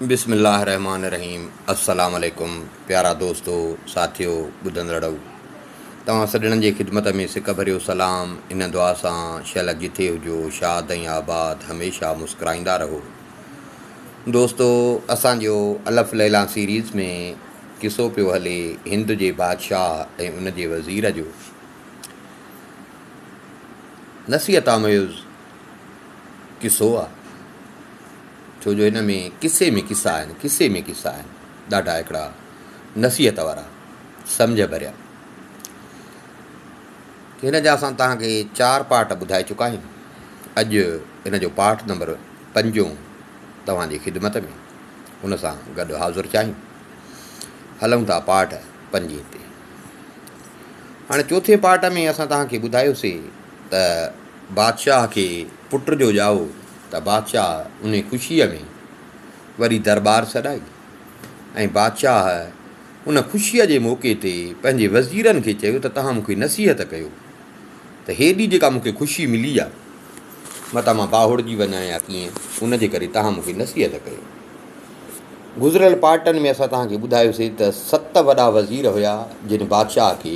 بسم الله الرحمٰن الرحيم السلام عليڪم پيارا دوستو ساٿيو ٻڌندڙئو توهان سڄڻن جي خدمت ۾ سڪ ڀريو سلام ان دعا سان شهلا جٿي هجو شاد ۽ آباد هميشه مسڪرائيندا رهو دوستو اسان جو الف ليلان سيريز ۾ قصو پيو هلي هند جي بادشاهه ۽ ان جي وزير جو نصيحت آميز قصو آ ڇو جو هن ۾ قصي ۾ قصا آهن قصي ۾ قصا آهن ڏاڍا هڪڙا نصيحت وارا سمجهه ڀريا هن جا اسان تهان کي چار پارٽ ٻڌائي چڪا آهيون اڄ هن جو پارٽ نمبر پنجون توهان جي خدمت ۾ هن سان گڏ حاضر چاهيون هلون ٿا پارٽ پنجين تي هاڻي چوٿين پارٽ ۾ اسان توهان کي ٻڌايوسين ته بادشاهه کي پٽ جو ڄائو ته بادشاهه انهي خوشيء ۾ وري درٻار سڏائي ۽ بادشاهه ان خوشيء جي موقعي تي پنهنجي وزيرن کي چيو ته توهان مون کي نصيحت ڪيو ته هيڏي جيڪا مون کي خوشي ملي آ، متان مان باهوڙجي وڃان يا ڪيئن، ان جي ڪري توهان مون کي نصيحت ڪيو. گذريل پارٽن ۾ اسان توهان کي ٻڌايوسين ته ست وڏا وزير هيا جن بادشاهه کي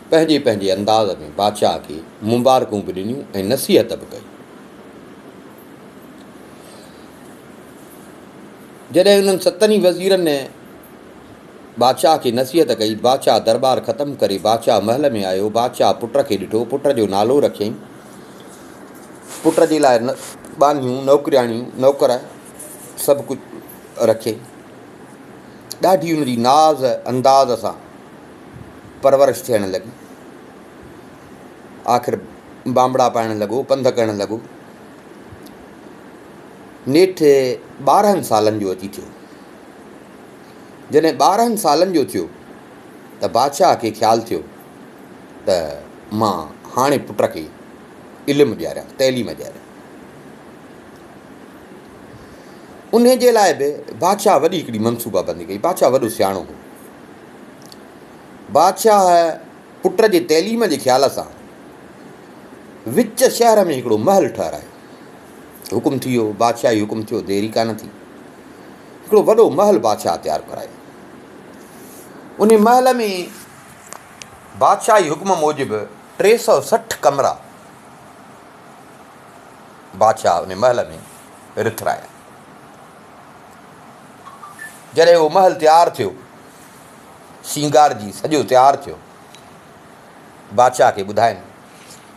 پنهنجي پنهنجي انداز ۾ بادشاهه کي مبارڪون به ڏنيون ۽ نصيحت به ڪئي. جڏهن انهن ستن ئي وزيرن بادشاهه کي نصيحت ڪئي. بادشاهه درٻار ختم ڪري بادشاهه محل ۾ آيو. بادشاهه پٽ کي ڏٺو. پٽ جو نالو رکيائين. پٽ جي لاء ٻانهيون، نوڪرياڻيون، نوڪر سڀ ڪجهه رکيائين. ڏاڍي ان جي ناز انداز سان پرورش ٿيڻ لڳي. آخر بانبڙا پائڻ لڳو، پنڌ ڪرڻ لڳو. نيٺ ٻارهن سالن جو اچي ٿيو. جڏهن ٻارهن سالن جو ٿيو ته بادشاهه کي خيال ٿيو ته مان هاڻي پٽ کي علم ڏياريان، تعليم ڏياريان. ان جي لاء به بادشاهه وڏي هڪڙي منصوبابندي ڪئي. بادشاهه وڏو سياڻو هو. بادشاهه پٽ جي تعليم جي خيال سان وچ شهر ۾ هڪڙو محل ٺهرايو. حڪم ٿي ويو، بادشاهي حڪم ٿيو، ديري ڪانه ٿي. هڪڙو وڏو محل بادشاهه تيار ڪرايو. انهي محل ۾ بادشاهي حڪم موجب ٽي سؤ سٺ ڪمرا بادشاهه انهي محل ۾ رٿرايا. جڏهن اهو محل تيار ٿيو، سينگارجي سڄو تيار ٿيو، بادشاهه کي ٻڌاين،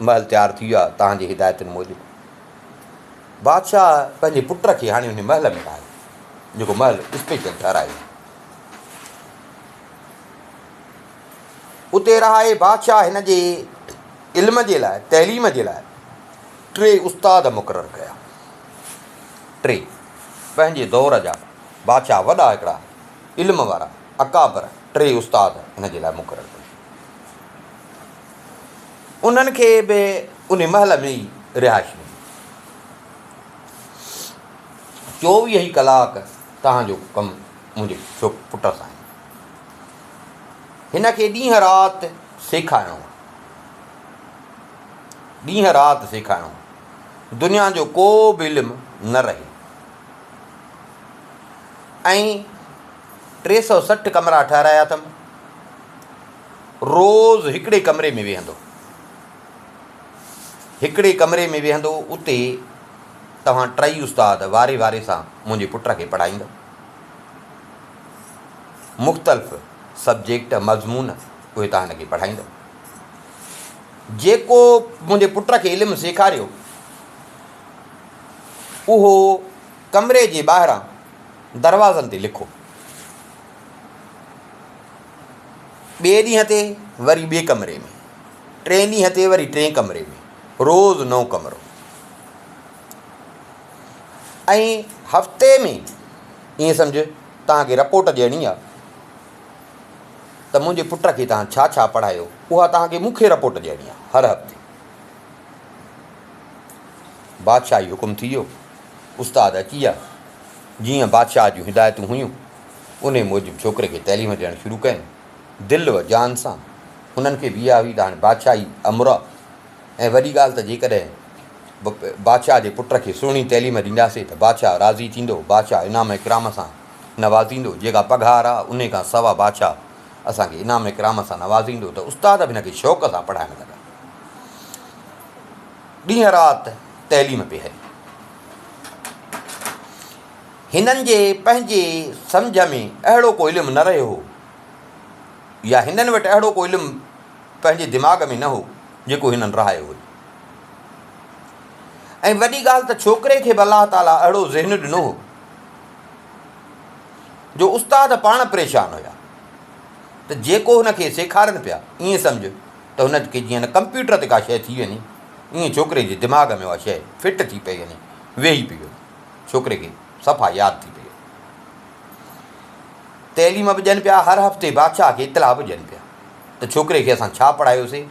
محل تيار ٿي ويو آهي، توهان جي هدايتن موجب. بادشاهه پنهنجي پٽ کي هاڻي انهي محل ۾ رهايو جيڪو محل اسپيشل ٺهرايو هو. اتي رهائي بادشاهه هن جي علم جي لاء، تعليم جي لاء ٽي استاد مقرر ڪيا. ٽي پنهنجي دور جا بادشاهه وڏا هڪڙا علم وارا اڪابر ٽي استاد هن جي لاء مقرر ڪيا. انهن کي به ان مهل ۾ ئي رهائش ملي. چوويهه ئي ڪلاڪ توهان جو ڪم منهنجي پٽ سان آهي. هن کي ڏينهن رات سيکارڻو آهي. ڏينهن رات سيکارڻو آهي. دنيا جو ڪو به علم نه رهي. ۽ ٽي سؤ سٺ ڪمرا ٺهرايا اٿم. روز هڪڙي ڪمري ۾ ويهندو. هڪڙي ڪمري ۾ ويهندو، اتي توهان ٽئي استاد واري واري سان منهنجي پٽ کي پڙهائيندؤ. مختلف سبجيڪٽ، مضمون، اهي توهان هن کي پڙهائيندؤ. جيڪو منهنجي پٽ کي علم سيکاريو، اهو ڪمري جي ٻاهران دروازن تي لکو. ٻئي ڏينهن تي وري ٻئي ڪمري ۾، ٽئين ڏينهن تي وري ٽئين ڪمري ۾، روز نئون ڪمرو. ۽ هفتي ۾ ائين سمجهه توهان کي رپورٽ ڏيڻي آ ته منهنجي پٽ کي توهان ڇا ڇا پڙهايو اها توهان کي مون کي رپورٽ ڏيڻي آ هر هفتي. بادشاهه جي حڪم ٿي ويو، استاد اچي ويا جيئن بادشاهه جون هدايتون هيون. انهيء موجب ڇوڪري کي تعليم ڏيڻ شروع ڪيم، دل و جان سان. هنن کي ويا هئي ته هاڻي بادشاهي امر آ ۽ وڏي ڳالهه ته جيڪڏهن بادشاهه جي پٽ کي سهڻي تعليم ڏينداسين ته بادشاهه راضي ٿيندو، بادشاهه انعام اڪرام سان نوازيندو، جيڪا پگهار آ، انهيء کان سوا بادشاهه اسان کي انعام اڪرام سان نوازيندو ته استاد به هن کي شوق سان پڙهائڻ لڳا. ڏينهن رات تعليم پئي هلي. هنن جي پنهنجي سمجهه ۾ اهڙو ڪو علم نه رهيو هو يا هنن وٽ اهڙو ڪو علم پنهنجي دماغ ۾ نه هو جيڪو هنن رهايو هجي ۽ وڏي ڳالهه ته ڇوڪري کي به الله تعاليٰ اهڙو ذهن ڏنو هو جو استاد پاڻ پريشان هيا ته جيڪو هن کي سيکارن پيا ائين سمجهه ته هن کي جيئن نه ڪمپيوٽر تي ڪا شيء ٿي وڃي ائين ڇوڪري جي دماغ ۾ اها شيء فٽ ٿي پئي وڃي ويهي پئي وڃي ڇوڪري کي صفا ياد ٿي پيو. تعليم به ڏين پيا، هر هفتي بادشاهه کي اطلاع به ڏين پيا ته ڇوڪري کي اسان ڇا پڙهايوسي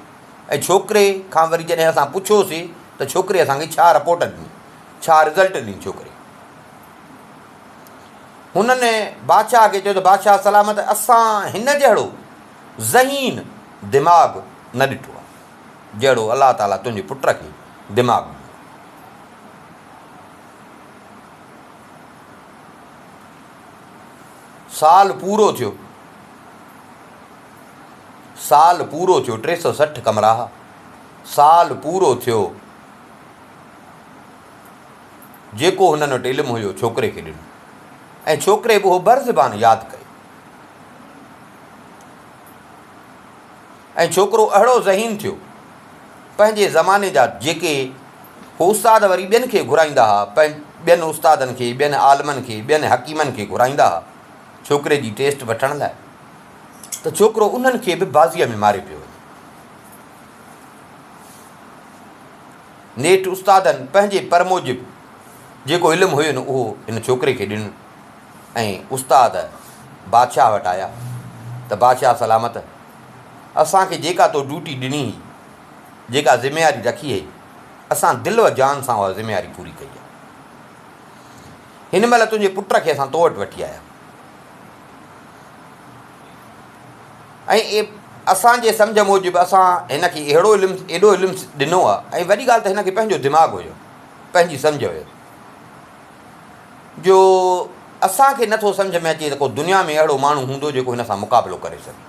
۽ ڇوڪري کان وري جڏهن اسان پڇيوسي ته ڇوڪري اسان کي ڇا رپورٽ ڏني، ڇا رزلٽ ڏني ڇوڪري. هنن بادشاهه کي چيو ته بادشاهه سلامت اسان هن جهڙو ذهين دماغ نه ڏٺو آهي، جهڙو الله تعاليٰ تنهنجي پٽ کي دماغ ڏنو. سال پورو ٿيو، سال پورو ٿيو، ٽي سؤ سٺ ڪمراهه، سال پورو ٿيو، جيڪو هنن وٽ علم هيو ڇوڪري کي ڏنو ۽ ڇوڪري به اهو بر زبان ياد ڪيو. ۽ ڇوڪرو اهڙو ذهين ٿيو. پنهنجي زماني جا جيڪي استاد وري ٻين کي گهرائيندا ها، ٻين استادن کي، ٻين عالمن کي، ٻين حڪيمن کي گهرائيندا ها ڇوڪري جي ٽيسٽ وٺڻ لاء ته ڇوڪرو انهن کي به بازيء ۾ ماري پيو وڃي. نيٺ استادن پنهنجي پر موجب جيڪو علم هين اهو هن ڇوڪري کي ڏنو. ۽ استاد بادشاهه وٽ آيا ته بادشاهه سلامت! اسان کي جيڪا تو ڊيوٽي ڏني هئي، جيڪا ذميواري رکي هئي، اسان دل و جان سان اها ذميواري پوري ڪئي آهي. هن مهل تنهنجي پٽ کي اسان تو وٽ وٺي آيا ۽ اسان جي سمجهه موجب اسان هن کي اهڙو علم، ايڏو علم ڏنو آهي ۽ وڏي ڳالهه ته هن کي پنهنجو دماغ هيو، پنهنجي سمجهه هيس. جو اسان کي نه ٿو سمجهه ۾ اچي ته ڪو دنيا ۾ اهڙو ماڻهو هوندو جيڪو هن سان مقابلو ڪري سگهي.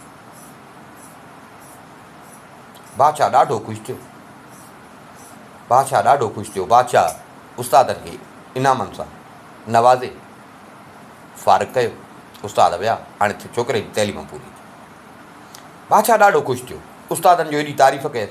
بادشاهه ڏاڍو خوش ٿيو. بادشاهه ڏاڍو خوش ٿيو. بادشاهه استادن کي انعامن سان نوازي فارغ ڪيو. استاد ويا هاڻي ڇوڪري جي تعليم پوري ٿي. بادشاهه ڏاڍو خوش ٿيو. استادن جو ايڏي تعريف ڪيس.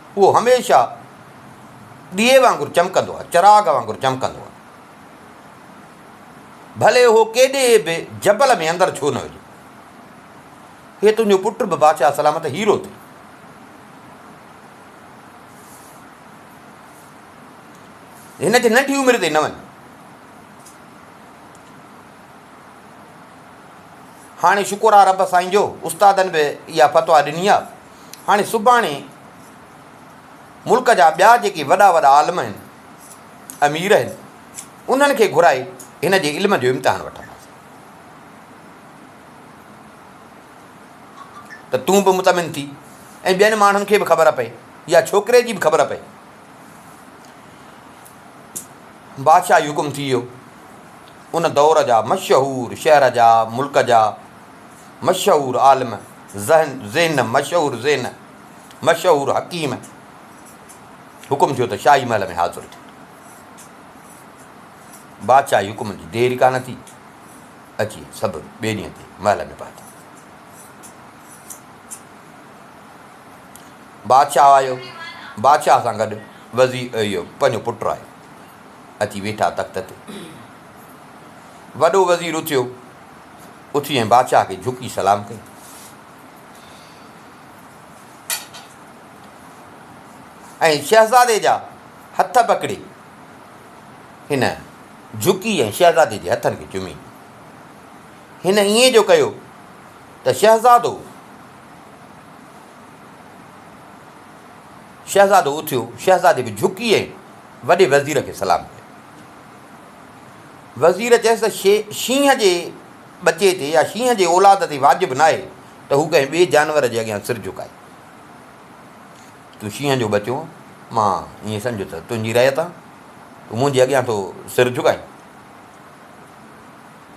اهو هميشه ڏيئي وانگر چمڪندو آهي، چراغ وانگر چمڪندو آهي. ڀلي اهو ڪيڏي به جبل ۾ اندر ڇو نه هجي. هي تنهنجو پٽ به بادشاهه سلامت هيرو ٿئي. هن جي ننڍي عمر تي نه وڃ. هاڻي شڪر آهي رب سائين جو استادن به اها فتويٰ ڏني آهي. هاڻي سڀاڻي ملڪ جا ٻيا جيڪي وڏا وڏا عالم آهن، امير آهن، انهن کي گهرائي هن جي علم جو امتحان وٺنداسين. ته تون به مطمئن ٿي ۽ ٻين ماڻهن کي به خبر پئي يا ڇوڪري جي به خبر پئي. بادشاهه جي حڪم ٿي ويو. ان دور جا مشهور شهر جا، ملڪ جا مشهور عالم ذهن ذهن مشهور ذهن مشهور حڪيم حڪم ٿيو ته شاهي محل ۾ حاضر ٿي بادشاهي حڪم جي دير ڪانه ٿي اچي سڀ ٻئي ڏينهن تي محل ۾ پهتا بادشاهه آيو بادشاهه سان گڏ وزير اهو پنهنجو پٽ آيو اچي ويٺا تخت تي وڏو وزير اٿيو اٿي ۽ بادشاهه کي جهڪي سلام ڪئي. ۽ شهزادي جا هٿ پڪڙي هن جهڪي ۽ شهزادي جي هٿن کي چمي. هن ائين جو ڪيو ته شهزادو شهزادو اٿيو، شهزادي به جهڪي ۽ وڏي وزير کي سلام ڪيو. وزير چيس ته شينهن جي ٻچي تي يا شينهن جي اولاد تي واجب ناهي ته هو ڪنهن ٻئي جانور جي اڳيان سر جهڪائي. تون شينهن جو ٻچو مان ائين سمجهه ته تنهنجي رعيت آهان، تون منهنجي اڳيان ٿو سر جهڪائين.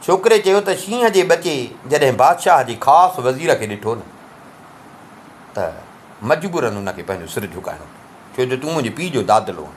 ڇوڪري چيو ته شينهن جي ٻچي جڏهن بادشاهه جي خاص وزير کي ڏٺو نه ته مجبورن ان کي پنهنجو سر جهڪائڻو پيو، ڇو جو تون منهنجي پيء جو دادلو آهين.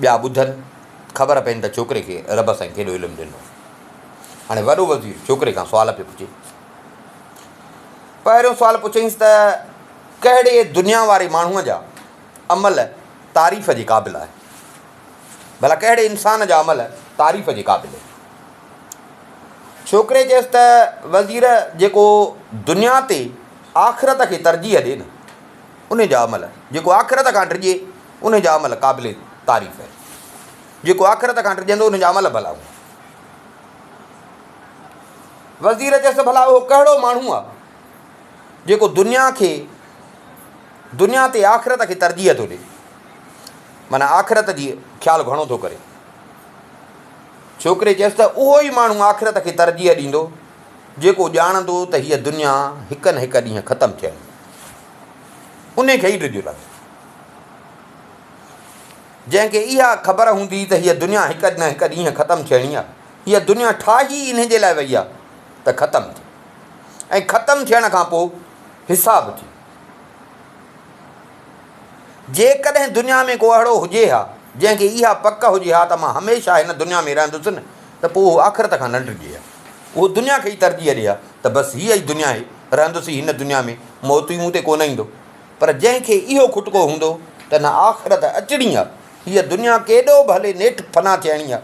ٻيا ٻڌن، خبر پين ته ڇوڪري کي رب سائين ڪيڏو علم ڏنو. هاڻي وڏو وزير ڇوڪري کان سوال پيو پڇي. پهريون سوال پڇيائينس ته ڪهڙي دنيا واري ماڻهوء جا عمل تعريف جي قابل آهن؟ ڀلا ڪهڙي انسان جا عمل تعريف جي قابل آهن؟ ڇوڪري چيس ته وزير جيڪو دنيا تي آخرت کي ترجيح ڏي نه انهي جا عمل جيڪو آخرت کان ڊڄي انهي جا عمل قابل تعريف آهن جيڪو آخرت کان ڊڄندو انهي جا عمل ڀلا هوندا. وزير چيس ته ڀلا اهو ڪهڙو ماڻهو آهي جيڪو دنيا کي دنيا تي آخرت کي ترجيح ٿو ڏي معنيٰ آخرت جي خيال گهڻو ٿو ڪري ڇوڪري چيس ته اهو ئي ماڻهو آخرت کي ترجيح ڏيندو جيڪو ڄاڻندو ته هيء دنيا هڪ نه هڪ ڏينهن ختم ٿيڻي انهي کي ئي ڊڄ لڳي، جنهن کي اها خبر هوندي ته هيء دنيا هڪ نه هڪ ڏينهن ختم ٿيڻي آهي. هيء دنيا ٺاهي ئي انهي جي لاء وئي آهي ته ختم ٿئي ۽ ختم ٿيڻ کان پوء حساب ٿئي. جيڪڏهن دنيا ۾ ڪو اهڙو هجي ها، جنهن کي اها پڪ هجي ها ته مان هميشه هن دنيا ۾ رهندس نه ته پوء هو آخرت کان نه ڊڄي ها. اهو دنيا کي ئي ترجيح ڏئي ها ته بس هيء ئي دنيا آهي، رهندس ئي هن دنيا ۾، موت ئي مون تي ڪونه ايندو. پر جنهن کي اهو کٽڪو هوندو ته نه آخرت اچڻي آهي، هيء دنيا ڪيڏو به هلي نيٺ فنا ٿيڻي آهي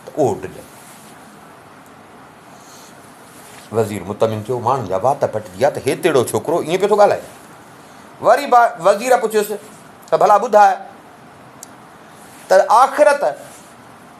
ته اهو ڊڄندو. وزير مطمئن ٿيو، ماڻهن جا وات پٽجي ويا ته هيتيڙو ڇوڪرو ائين پيو ٿو ڳالهائي. وري وزير پڇيس ته ڀلا ٻڌاء ته آخرت،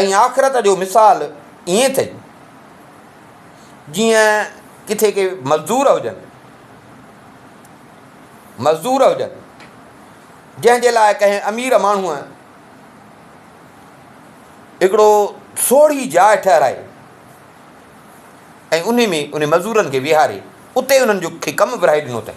۽ آخرت جو مثال ائين اٿئي جيئن ڪٿي ڪي مزدور هجن مزدور هجن جنهن جي لاء ڪنهن امير ماڻهوء هڪڙو سوڙهي جاء ٺهرائي ۽ ان ۾ ان مزدورن کي ويهاري اتي انهن جو کي ڪم ورهائي ڏنو اٿئي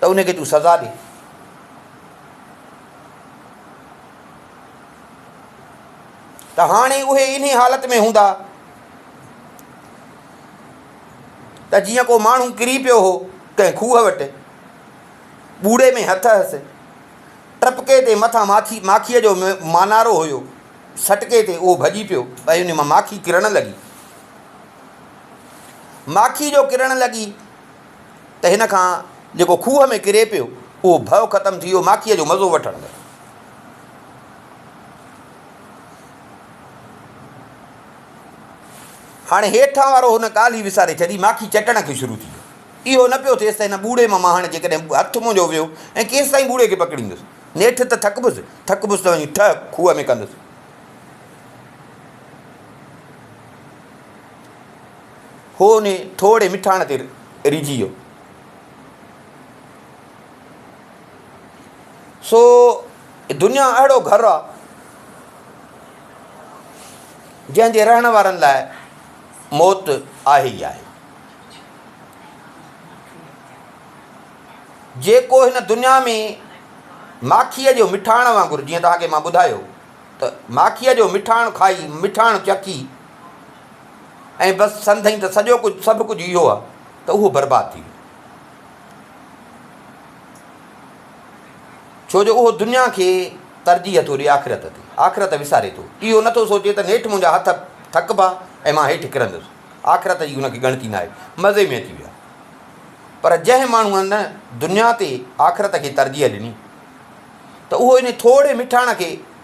ته ان کي تون سزا ڏي. ته هاڻي اهي انهي حالت ۾ هوندا ته جيئن ڪو ماڻهو ڪري پيو هو ڪنهن کوهه وٽ، ٻوڙي ۾ هٿ هئس، ٽپڪي تي مٿان ماکي ماکيء جو مانارو هيو، سٽڪي تي اهو ڀڄي پيو ۽ ان مان ماکي ڪرڻ لڳي. ماکي جو ڪرڻ لڳي. ته هن کان جيڪو کوهه ۾ ڪري پيو، اهو ڀؤ ختم ٿي ويو، ماکيء جو مزو وٺڻ لڳو. هاڻي هيٺان وارو هن ڳالهه ئي وساري ڇڏي، ماکي چٽڻ کي شروع ٿي ويو. اهو نه پيو ٿيس ته هن ٻوڙي مان مهاڻ جيڪڏهن هٿ منهنجو ويو ۽ ڪيستائين ٻوڙي کي پڪڙيندس. نيٺ ته ٿڪبس، ٿڪبس ته وڃي ٺهه کوهه ۾ ڪندس. هو انهي ٺوڙهي مٺاڻ تي ريجهي ويو. سو دنيا اهڙو گهر آ جنهن جي رهڻ وارن لاء موت آهي ئي آهي. جيڪو هن دنيا ۾ ماکيء جو مٺاڻ وانگر جيئن توهان کي مان ٻڌايو ته ماکيء جو مٺاڻ کائي مٺاڻ چکي، ۽ بس سندين ته سڄو ڪجهه سڀ ڪجهه اهو آهي ته اهو برباد ٿي ويو ڇو جو اهو دنيا کي ترجيح ٿو ڏي آخرت تي آخرت وساري ٿو اهو نٿو سوچي ته نيٺ منهنجا هٿ ٿڪبا ۽ مان هيٺ ڪرندس آخرت جي هن کي ڳڻتي ناهي مزي ۾ اچي ويا پر جنهن ماڻهوء نه دنيا تي آخرت کي ترجيح ڏني ته اهو ان ٿورڙي مٺاڻ کي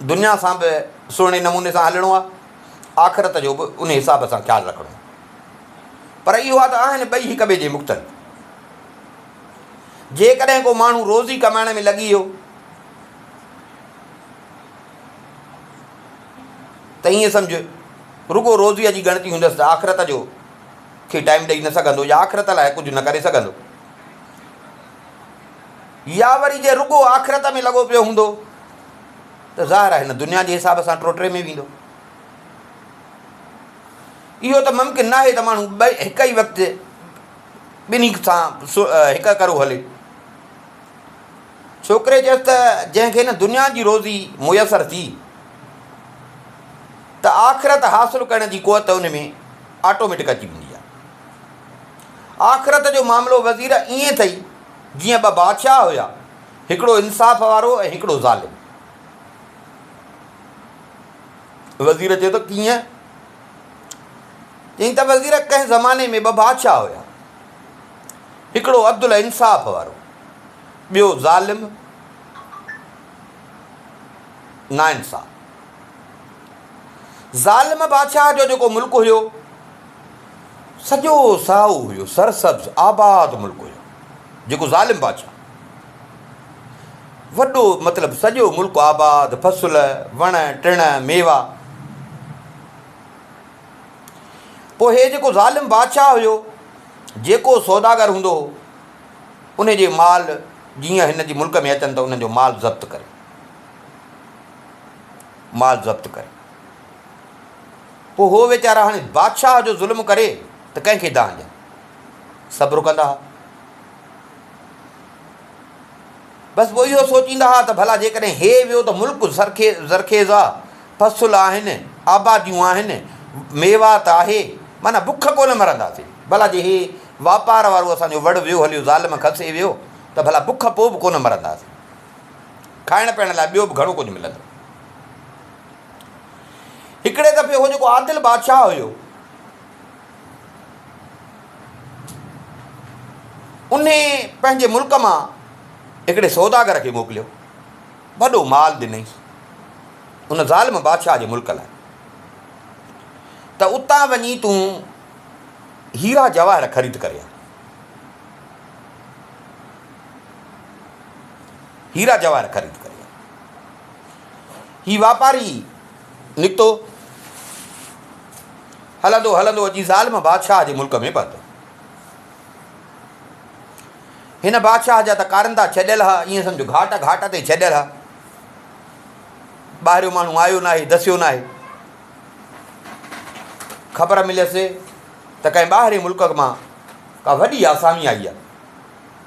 دنيا سان به سهڻي نموني سان هلڻو آهي، آخرت جو به ان حساب سان خيال رکڻو آهي. پر اهو آهي ته آهن ٻئي هڪ ٻئي جي مختلف. جيڪڏهن ڪو ماڻهو روزي ڪمائڻ ۾ لڳي ويو ته ائين سمجهه رڳو روزيء جي ڳڻتي هوندس ته آخرت جو کي ٽائيم ڏئي نه سگهندو يا آخرت لاء ڪجهه نه ڪري سگهندو. يا وري جي رڳو آخرت ۾ لڳو پيو هوندو، ته ظاهر آهي هن دنيا جي حساب سان ٽوٽري ۾ ويندو. اهو ته ممڪن ناهي ته ماڻهو ٻئي هڪ ئي وقت ٻنهي سان هڪ ڪرو هلي. ڇوڪري چيس ته جنهن کي هن دنيا جي روزي ميسر ٿي ته آخرت حاصل ڪرڻ جي قوت ان ۾ آٽوميٽڪ اچي ويندي آهي. آخرت جو معاملو وزير ائين اٿئي جيئن ٻه بادشاهه هيا. هڪڙو انصاف وارو ۽ هڪڙو ظالم. وزير چيو ته ڪيئن؟ چيائين ته وزير ڪنهن زماني ۾ ٻه بادشاهه هيا. هڪڙو عدل ۽ انصاف وارو ٻيو ظالم ناانصاف. ظالم بادشاهه جو جيڪو ملڪ هيو سڄو سائو هيو سرسبز آباد ملڪ هيو. جيڪو ظالم بادشاهه وڏو مطلب سڄو ملڪ آباد، فصل، وڻ ٽڻ، ميوا. پوء هي جيڪو ظالم بادشاهه هيو، جيڪو سوداگر هوندو هو، ان جي مال جيئن هن جي ملڪ ۾ اچن ته انهن جو مال ضبط ڪري. مال ضبط ڪري. پوء هو ويچارا هاڻي بادشاهه جو ظلم ڪري ته ڪنهن کي دانهن ڏين. صبر ڪندا ها. بس پوء اهو سوچيندا ها ته ڀلا جيڪڏهن هي ويو ته ملڪ زرخيز آ، فصل آهن، آباديون آهن، ميوات آهي، معنيٰ بک ڪونه مرنداسين. ڀلا جي هي واپار وارو اسان جو وڙ ويو هليو ظالم کسي ويو ته ڀلا بک پوء به ڪونه مرنداسين. کائڻ پيئڻ لاء ٻيو به گهڻو ڪجهه ملندو. هڪڙي دفعي اهو جيڪو عادل بادشاهه هيو. ان پنهنجي ملڪ مان هڪڙي سوداگر کي موڪليو، وڏو مال ڏنئيس ان ظالم بادشاهه جي ملڪ لاء ته اتان وڃي تون هيرا جواهر خريد ڪري آ. هيرا جواهر خريد ڪري آ. هي واپاري نڪتو. هلندو هلندو اچي ظالم بادشاهه جي ملڪ ۾ پهتو. هن بادشاهه جا ته ڪارندا ڇڏيل ها، ائين سمجهه گهاٽ گهاٽ تي ڇڏيل ها. ٻاهريون ماڻهو آيو ناهي، دسيو ناهي. خبر مليس ته ڪنهن ٻاهرين ملڪ مان ڪا وڏي آسامي آئي آهي.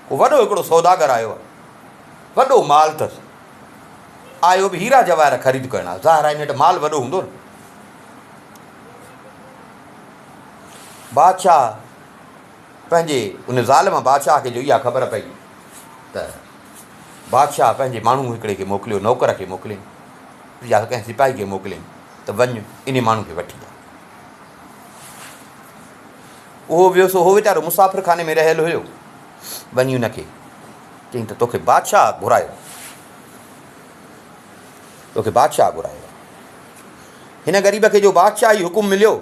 ڪو وڏو هڪڙو سوداگر آيو آهي. وڏو مال اٿس. آيو به هيرا جواهر خريد ڪرڻ آ ظاهر آ ان وٽ مال وڏو هوندو نه. بادشاهه پنهنجي ان ظالم بادشاهه کي جو اها خبر پئي ته بادشاهه پنهنجي ماڻهو هڪڙي کي موڪليو نوڪر کي موڪلين يا ڪنهن سپاهي کي موڪلين ته وڃ ان ماڻهو کي وٺي آ اهو ويو سو هو ويچارو مسافر خاني ۾ رهيل هيو وڃي ان کي چيائين ته توکي بادشاهه گهرايو توکي بادشاهه گهرايو آهي. هن غريب کي جو بادشاهي حڪم مليو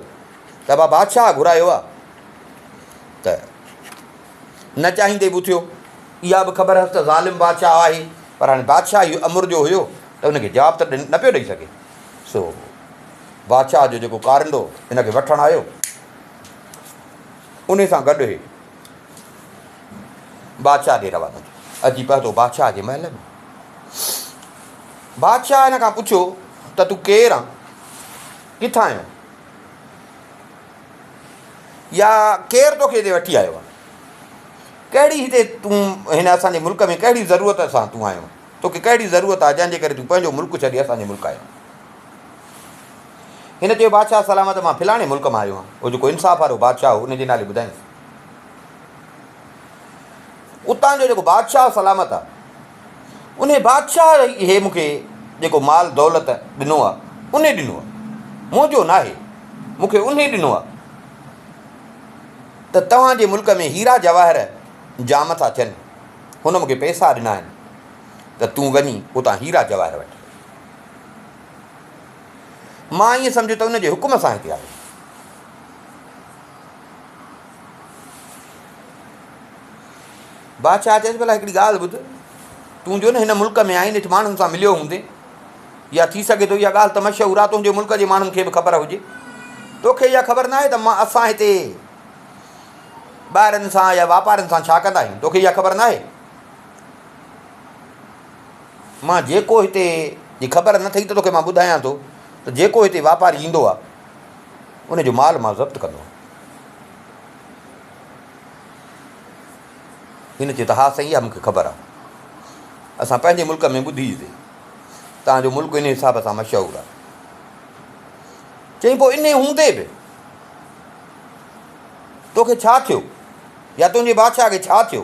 ته ابا بادشاهه گهرايو آهي ته نه چاهيندي به اٿيو. اها به خبر هئس ته ظالم بادشاهه آهي پر هاڻي بادشاهي امر جو هيو ته ان کي جواب ته نه پيو ڏئي سگهي. سو بادشاهه جو جيڪو ڪارندو هن کي وٺڻ آيو انهي سان گڏ هي بادشاهه ڏي روانا ٿيو. اچي پهتو بادشاهه جي محل ۾. بادشاهه هن کان پڇيو ته تون ڪير آن؟ ڪٿان آيو آن؟ يا ڪير توکي هتي وٺي آيو آن؟ ڪهڙي هتي تون هن اسان جي ملڪ ۾ ڪهڙي ضرورت سان تون آيو آن؟ توکي ڪهڙي ضرورت آ جنهن جي ڪري تون پنهنجو ملڪ ڇڏي اسان جي ملڪ آيو آن؟ هن چيو بادشاهه سلامت مان فلاڻي ملڪ مان آيو آهيان. اهو جيڪو انصاف وارو بادشاهه هو ان جي نالي ٻڌائينس. اتان جو جيڪو بادشاهه سلامت آهي انهي بادشاهه هي مون کي جيڪو مال دولت ڏنو آهي انهي ڏنو آهي منهنجو ناهي مون کي انهي ڏنو آهي ته توهان جي ملڪ ۾ هيرا جواهر جام ٿا ٿين هن مون کي پئسا ڏنا آهن ته تون وڃي اتان هيرا جواهر وٺ. مان ائين سمجهيو ته ان جي حڪم سان هتي آيو. بادشاهه چيس ڀلا هڪڙي ڳالهه ٻڌ تون جو نه هن ملڪ ۾ آئين نيٺ ماڻهن سان مليو هوندي يا ٿي سگهي ٿو اها ڳالهه ته مشهور آ تنهنجي ملڪ جي ماڻهن کي به خبر هجي توکي اها خبر ناهي ته مان اسان هتي ٻاهرن سان يا واپارن سان ڇا ڪندا آهيون توکي اها خبر ناهي مان جيڪو هتي جي خبر نه ٿئي ته توکي مان ٻڌايان ٿو ته جيڪو هتي واپاري ايندو آهي ان جو مال مان ضبط ڪندو آهيان. هن چيو ته ها سائين اها مون کي خبر آهي. اسان پنهنجي ملڪ ۾ ٻڌي ته توهان جو ملڪ ان حساب سان مشهور آهي. چيائين پوء ان هوندي به توکي ڇا ٿيو يا تنهنجي بادشاهه کي ڇا ٿيو؟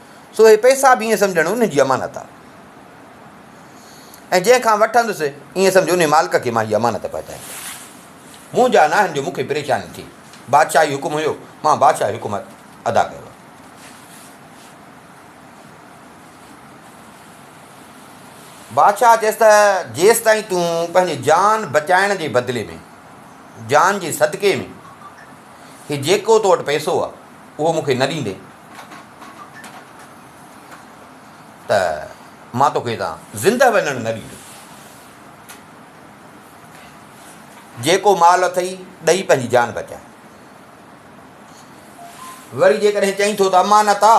سو اهي پئسا به ائين سمجهڻ ان جي امانت آ ۽ جنهن کان وٺندس ائين سمجهه ان مالڪ کي مان هي امانت پهچائيندس. منهنجا ناهن جو مون کي پريشاني ٿي. بادشاهي حڪم هيو، مان بادشاهي حڪم ادا ڪيو. بادشاهه چيس ته جيستائين تون پنهنجي جان بچائڻ جي بدلي ۾ جان جي صدقي ۾ هي جيڪو تو وٽ پئسو آ اهو مون کي نه ڏيندين ته مان توکي هتان زندهه وڃڻ نه ڏيندس. جيڪو مال اٿئي ڏئي پنهنجي جان بچاء. وري جيڪڏهن چئين ٿو ته امانت آ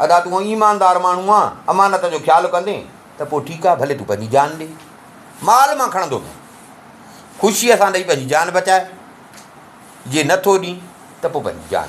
ادا تون ايماندار ماڻهو آ امانت جو خيال ڪندين ته پوء ٺيڪ آ ڀلي تون پنهنجي جان ڏي مال مان کڻندو نه خوشيء سان ڏئي پنهنجي جان بچاء جي نه ٿو ڏين ته پوء پنهنجي جان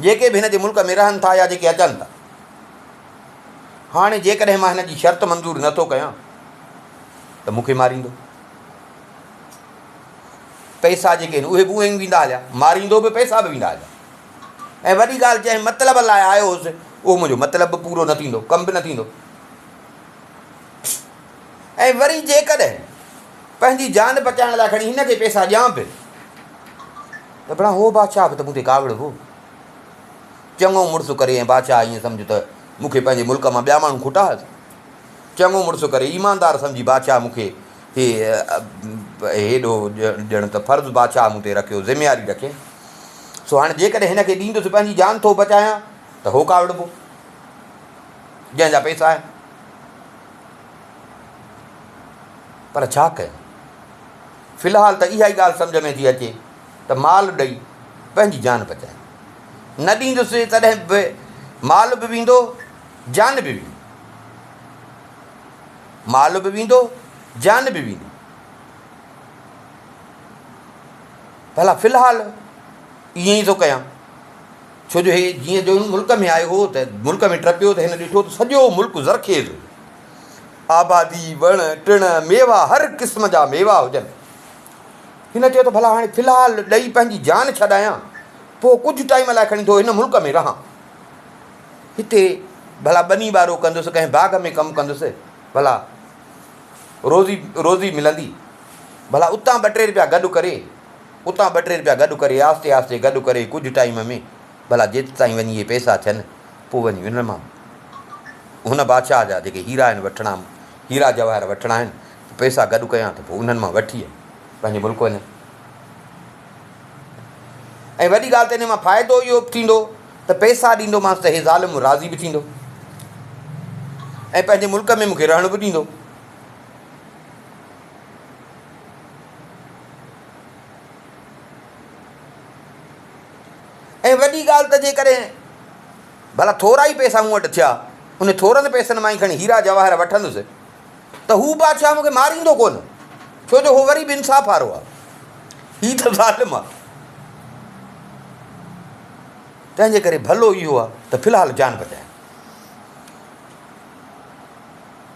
جيڪي به هن جي ملڪ ۾ رهن ٿا يا جيڪي اچن ٿا. هاڻي جيڪڏهن مان هن جي شرط منظور نه ٿو ڪيان ته مون کي ماريندو. پئسا جيڪي آهن اهي به اونئين ويندا هليا. ماريندو به پئسا به ويندا هليا. ۽ وڏي ڳالهه جنهن مطلب لاء آيو هوس اهو منهنجو مطلب به پورو نه ٿيندو، ڪم به نه ٿيندو. ۽ وري جيڪڏهن پنهنجي جان بچائڻ لاء کڻي هن کي پيسا ڏيان پئي ته ڀلا هو بادشاهه به ته مون تي ڪاوڙ هو چڱو مڙس ڪري ۽ بادشاهه ائين سمجهه ته مون کي پنهنجي ملڪ مان ٻيا ماڻهو کوٽا هئس چڱو مڙس ڪري ايماندار سمجهي بادشاهه مون کي هي هيڏو ڄڻ ته فرض بادشاهه مون تي رکيو ذميواري رکي سو هاڻي جيڪڏهن هن کي ڏيندس پنهنجي جان ٿو بچايان ته هو ڪاوڙبو جنهن جا پيسا آهن پر ڇا ڪيون؟ في الحال ته اها ئي ڳالهه سمجهه ۾ ٿي اچي ته مال ڏئي پنهنجي جان بچايون. نه ڏيندس تڏهن به مال به ويندو جان به ويندي. مال به ويندو جان به ويندي. ڀلا في الحال ائين ئي ٿو ڪيان. ڇو جو هي جيئن جو ملڪ ۾ آيو هو ته ملڪ ۾ ٽپيو ته هن ڏٺو ته سڄو ملڪ زرخيز هو. آبادي، وڻ ٽڻ، ميوا هر قسم جا ميوا هجن. هن چيو ته ڀلا هاڻي في الحال ڏئي پنهنجي جان ڇڏايان، پوء ڪجهه ٽائيم لاء کڻي ٿو هن ملڪ ۾ رهان. هتي ڀلا ٻني ٻارو ڪندس، ڪنهن باغ ۾ ڪم ڪندس، ڀلا روزي روزي ملندي. ڀلا اتان ٻه ٽي رپيا گڏ ڪري. اتان ٻه ٽي رپيا گڏ ڪري آهستي آهستي گڏ ڪري ڪجهه ٽائيم ۾ ڀلا جت تائين وڃي اهي پئسا ٿين پوء وڃي انهن مان هن بادشاهه جا جيڪي هيرا آهن وٺڻا هيرا جواهر وٺڻا آهن پئسا گڏ ڪيان ته پوء انهن مان وٺي پنهنجي ملڪ وڃان ۽ وڏي ڳالهه ته ان مان فائدو اهو به ٿيندو ته پئسا ڏيندومانس ته هي ظالم راضي به ٿيندو ۽ پنهنجي ملڪ ۾ مونکي رهڻ به ڏيندو ۽ وڏي ڳالهه ته جيڪڏهن ڀلا ٿورا ئي پئسا مون وٽ ٿيا، انهن ٿورن پئسن مان ئي کڻي هيرا جواهر وٺندس ته هو بادشاهه مون کي ماريندو ڪونه، ڇو جو هو وري به انصاف وارو آهي. هي ته ظالم آهي. تنهن جي ڪري ڀلو اهو آهي ته في الحال جان بچايان.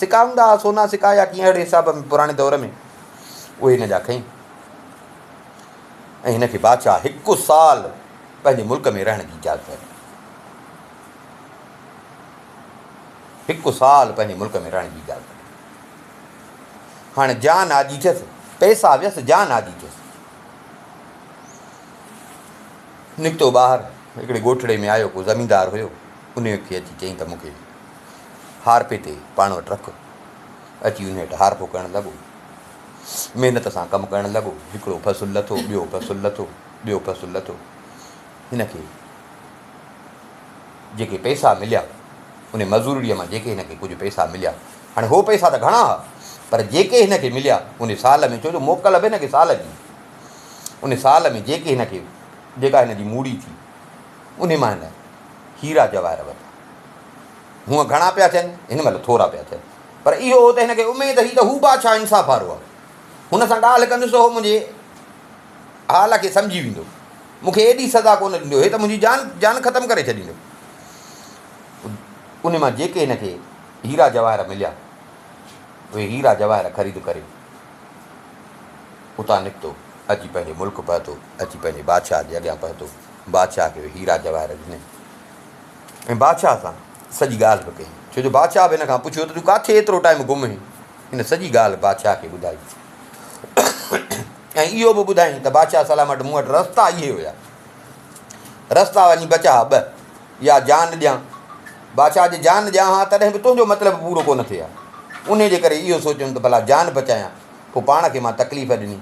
سڪا هوندا ها، سونا سڪا يا ڪيئن اهڙي حساب ۾ پراڻي دور ۾، اهي هن جا کئي ۽ هن کي بادشاهه هڪ سال پنهنجي ملڪ ۾ رهڻ جي اجازت ڏني. هڪ سال پنهنجي ملڪ ۾ رهڻ جي اجازت ڏني. هاڻي جان آجي ٿيس، پئسا ويس، جان آجي ٿيس. نڪتو ٻاهر هڪڙي ڳوٺڙي ۾ آيو، ڪو زميندار هيو، انهيء کي اچي چيائين ته مون کي هارپي تي پاڻ وٽ رک. اچي ان هيٺ هارپو ڪرڻ لڳو. محنت سان ڪم ڪرڻ لڳو. هڪڙو فصل لٿو، ٻيو فصل لٿو، ٻيو فصل لٿو. هن کي جيڪي پئسا مليا، ان مزورڙيء مان جيڪي هن کي ڪجهه پئسا مليا، هاڻي هو پئسا ته گهڻا ها، پر جيڪي هن کي مليا، ان سال ۾، ڇو جو موڪل به هن کي سال جي، ان سال ۾ جيڪي هن کي، جيڪا هن جي موڙي ٿي، ان مان هن هيرا جواهر ورتا. هونء گهڻا پيا ٿين، هن مهل ٿورا پيا ٿين. پر اهو هو ته هن کي اميد هئي ته هو بادشاهه انصاف وارو آهي. هن سان ڳالهه ڪندس ته هو منهنجي حال کي سمجهي ويندو. مون کي ايڏي سزا ڪونه ڏيندو. هي ته منهنجي جان جان ختم ڪري ڇڏيندو. انهي مان جيڪي هن کي هيرا جواهر مليا، اهي هيرا جواهر خريد ڪري اتان نڪتو. اچي پنهنجي ملڪ پهتو. اچي پنهنجي بادشاهه جي اڳيان پهتو. بادشاهه کي اهي هيرا جواهر ڏني. ۽ بادشاهه سان سڄي ڳالهه به ڪئي، ڇو جو بادشاهه به هن کان پڇيو ته تون ڪاٿي ايترو ٽائيم گم هئين؟ هن سڄي ڳالهه بادشاهه کي ٻڌائي ۽ اهو به ٻڌائين ته بادشاهه سلامٽ مون وٽ رستا اهي هيا رستا وڃي بچا ٻه يا جان ڏيان بادشاهه جي جان ڏيان ها تڏهن به تنهنجو مطلب پورو ڪونه ٿئي ها ان جي ڪري اهو سوچيم ته ڀلا جان بچايان پوء پاڻ کي مان تڪليف ڏني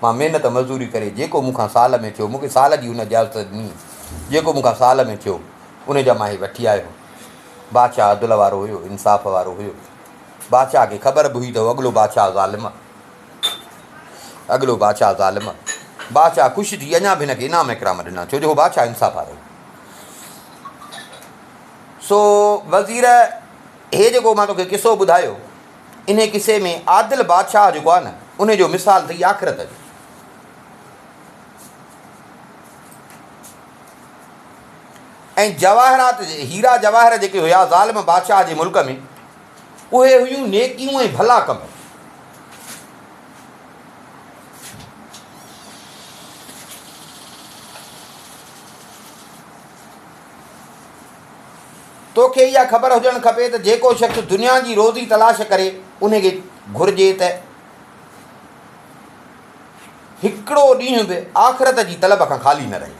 مان محنت مزدوري ڪري جيڪو مون کان سال ۾ ٿيو، مون کي سال جي هن اجازت ڏني، جيڪو مون کان سال ۾ ٿيو، ان جا مان هي وٺي آيو هوم. بادشاهه عدل وارو هيو، انصاف وارو هيو. بادشاهه کي خبر به هئي ته هو اڳلو بادشاهه ظالم آ. اڳلو بادشاهه ظالم آ. بادشاهه خوش ٿي اڃا به هن کي انعام اڪرام ڏنا، ڇو جو هو بادشاهه انصاف وارو هيو. سو وزير، هي جيڪو مان توکي قصو ٻڌايو، انهيء قصي ۾ عادل بادشاهه جيڪو آهي نه، انهيء جو مثال اٿئي آخرت جو. ۽ جواهرات، هيرا جواهر جيڪي هيا ظالم بادشاهه جي ملڪ ۾، اهي هيون نيڪيون ۽ ڀلا ڪم. تو کي اها خبر هجڻ کپي ته جيڪو شخص دنيا جي روزي تلاش ڪري ان کي گهرجي ته هڪڙو ڏينهن به آخرت جي طلب کان خالي نه رهي.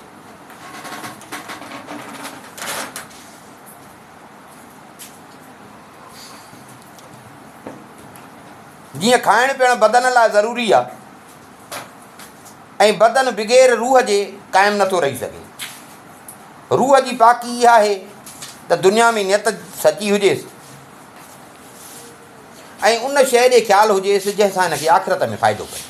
جيئن کائڻ پيئڻ بدن لاء ضروري آهي ۽ بدن بغير روح جي قائم نٿو رهي سگهي. روح جي پاڪي اها آهي ته دنيا ۾ نيت سچي هجيس ۽ ان شيء ڏي خيال هجيس جنهن سان هن کي آخرت ۾ فائدو پئي.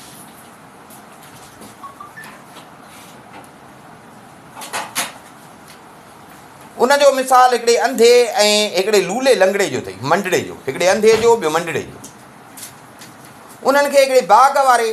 ان جو مثال هڪڙي انڌي ۽ هڪڙي لولي لنگڙي جو اٿئي منڊڙي جو هڪڙي انڌي جو ٻيو منڊڙي جو انهن کي هڪڙي باغ واري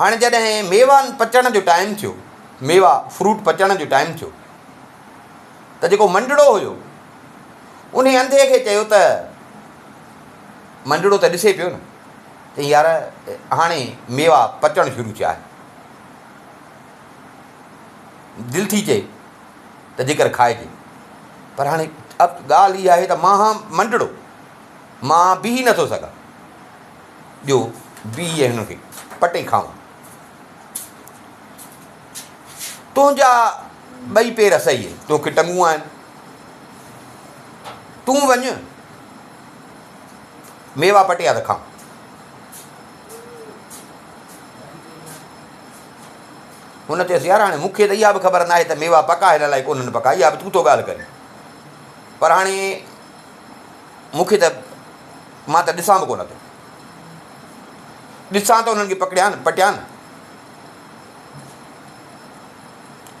هاڻي جڏهن ميوا پچڻ جو ٽائيم ٿيو، ميوا، Fruit، پچڻ جو ٽائيم ٿيو ته جيڪو منڊڙو هيو، انهي انڌي کي چيو ته، منڊڙو ته ڏسي پيو نه، چئي يار هاڻي ميوا پچڻ شروع ٿيا آهن. دل ٿي چئي ته جيڪر کائجي. پر هاڻي اب ڳالهه هي آهي ته مان هان منڊڙو، مان بيهي نٿو سگهان. ڏيو بيهي هن کي پٽي کائون. تنهنجا ٻئي پير سهي تو کي ٽنگون آهن. تون وڃ ميوا پٽيا ته کائون. هن چيس يار هاڻي مون کي ته اها به خبر ناهي ته ميوا پڪا هن لاء ڪونهن پڪا اها به تون ٿو ڳالهه ڪرين پر هاڻي مون کي ته مان ته ڏسان به ڪونه ٿو. ڏسان ته انهن کي پڪڙيان، پٽيان.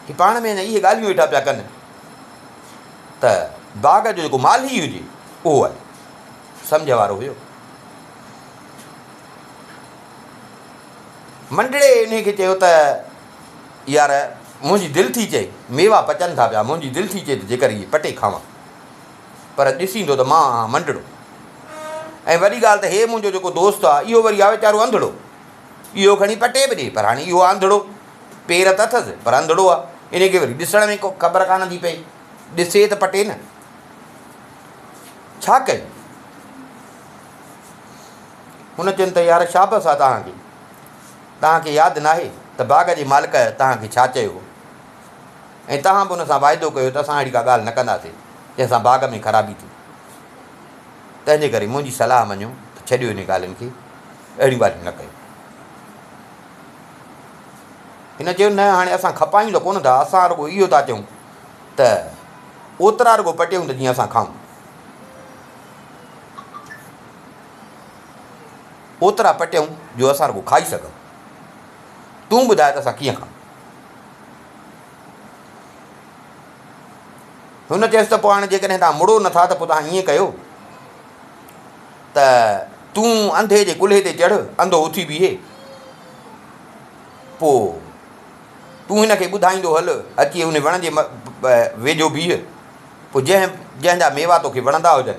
هي پاڻ ۾ اهي ڳالهيون ويٺا پيا ڪن ته باغ جو جيڪو مالهي هجي اهو آيو. سمجهه وارو هيو. منڊڙي انهي کي چيو ته يار منهنجي دل ٿي چئي ميوا پچن ٿا پيا، منهنجي دل ٿي چئي ته جيڪر اهي پٽي کاوان. پر ڏسيندو ته مان آهان منڊڙو ۽ وڏي ڳالهه ته هي منهنجو جيڪو دوست آ اهو وري آ ويچارو انڌڙو اهو کڻي پٽي به ڏي پر هاڻي اهو آ انڌڙو پير ته اٿس پر انڌڙو آ انهي کي وري ڏسڻ ۾ خبر ڪانه ٿي پئي ڏسي ته پٽي نه ڇا ڪيو هن چين ته يار شابس آ توهان کي توهان کي ياد ناهي ته باغ جي مالڪ توهان کي ڇا چيو هو ۽ توهان به ان سان واعدو ڪيو ته اسان اهڙي ڪا ڳالهه نه ڪنداسين، جنهن سان باغ ۾ خرابي ٿئي. تنهنجي ڪري منهنجي صلاح مڃو ته ڇڏيو انهن ڳالهين کي، اهڙيون ڳالهيون نه ڪيو. هن چيو، نه، هاڻي اسان کپايون ته ڪونه ٿا، اسان رڳو اهو ٿا چئون ته اوترا رڳو پٽيون ته جيئن اسان کائون. اوترا پٽيون جو اسان رڳو کائي سگهون. تون ٻڌاء ته اسان ڪيئن کائون؟ هن چيس ته پوء هاڻي جيڪڏهن توهان مڙو نه ٿا ته پوء توهان ائين ڪيو ته تون انڌي جي ڪلهي تي چڙهه، انڌو اٿي بيهي، پوء تون هن کي ٻڌائيندو هل، اچي ان وڻ جي ويجهو بيهه، پوء جنهن جنهن جا ميوا توکي وڻندا هجن،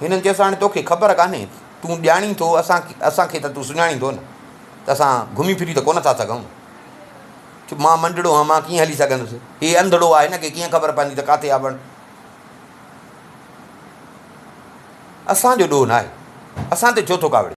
هنن چيس، هاڻي توکي خبر ڪانهي، تون ڄاڻين ٿو، اسان کي ته تون سڃاڻين ٿو نه، ته اسان گهمي ڦري ته ڪونه ٿا سگهون. چپ، مان منڊڙو آهيان، مان ڪيئن هلي سگهندس؟ هي انڌڙو آهي، هن کي ڪيئن خبر پوندي ته ڪاٿي آبڻ؟ اسان جو ڏوهه ناهي، اسان تي ڇو ٿو ڪاوڙين؟